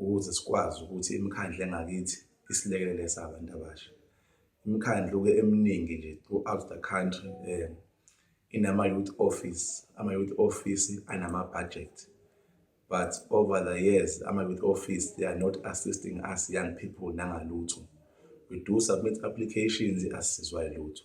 ukuze sikwazi ukuthi imikhandlu engakithi isilekelele sabantu abasha imikhandlu-ke eminingi nje throughout the country um inama-youth office ama-youth office anama-budget but over the years ama-youth office they are not assisting us young people nangalutho we do submit applications asizwa lutho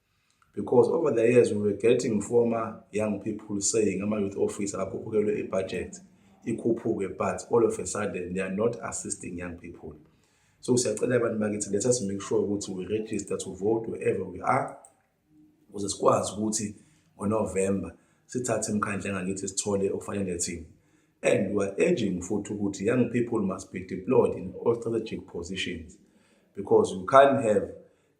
because over the years we were getting former young people saying ama-youth office akakhuphukelwe i-budget ikhuphuke but all of a sudden they are not assisting young people so siyacela abantu bakithi let us make sure ukuthi we register to vote wherever we are ukuze sikwazi ukuthi ngonovemba sithathe imkhandla engakithi sithole okufanele thina and we are urging futhi ukuthi young people must be deployed in all strategic positions because you can't have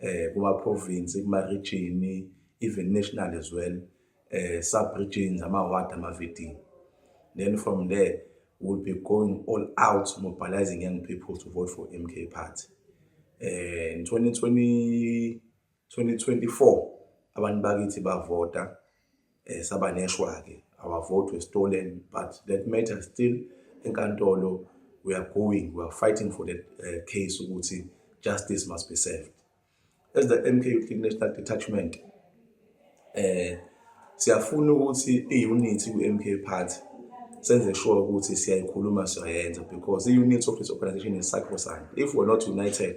eh kuma province kuma region even national as well eh sub regions ama ward ama vetting then from there we'll be going all out mobilizing young people to vote for MK party eh in 2020 2024 abantu bakithi bavota eh, saba neshwa-ke our vote was stolen but that matter still enkantolo we are going we are fighting for that uh, case ukuthi justice must be served as the mk youth league national detachment eh siyafuna ukuthi i-unit ku-mk party senze sure ukuthi siyayikhuluma siyayenza because i-unit of this organization is sacrosanct if we're not united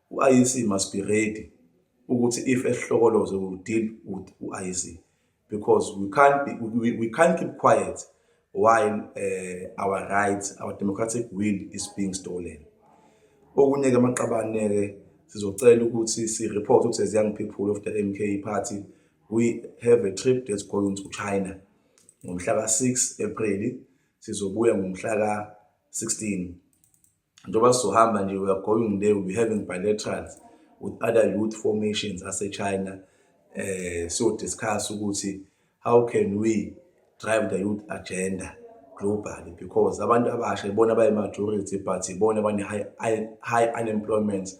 UIEC must be ready ukuthi if esihlokoloze we will deal with uIEC because we can't be, we, we can't keep quiet while uh, our rights our democratic will is being stolen okunye ke amaqabane ke sizocela ukuthi si report ukuthi as young people of the MK party we have a trip that's going to China ngomhla ka 6 April sizobuya ngomhla ka 16 njengoba sizohamba nje we are going there we'll be having bilaterals with other youth formations asechina eh siyodiscuss ukuthi how can we drive the youth agenda globally because abantu abasha ibona abayi-majority but ibona abane-high high unemployment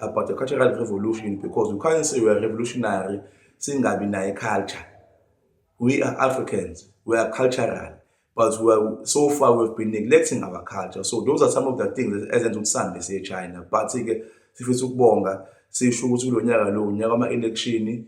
about the cultural revolution because we can't say we're revolutionary singabi naye culture we are africans we are cultural but we are, so far we've been neglecting our culture so those are some of the things ezenza ukuthi sihambe siye china but-ke sifisa ukubonga sisho ukuthi kulo nyaka lo unyaka wama-elekshini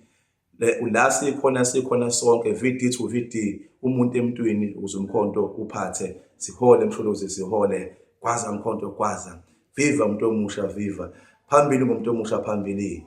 la sikhona sikhona sonke VD to VD umuntu emntwini ukuze umkhonto uphathe sihole msholozi sihole kwaza mkhonto kwaza viva umuntu omusha viva phambili ngomuntu omusha phambili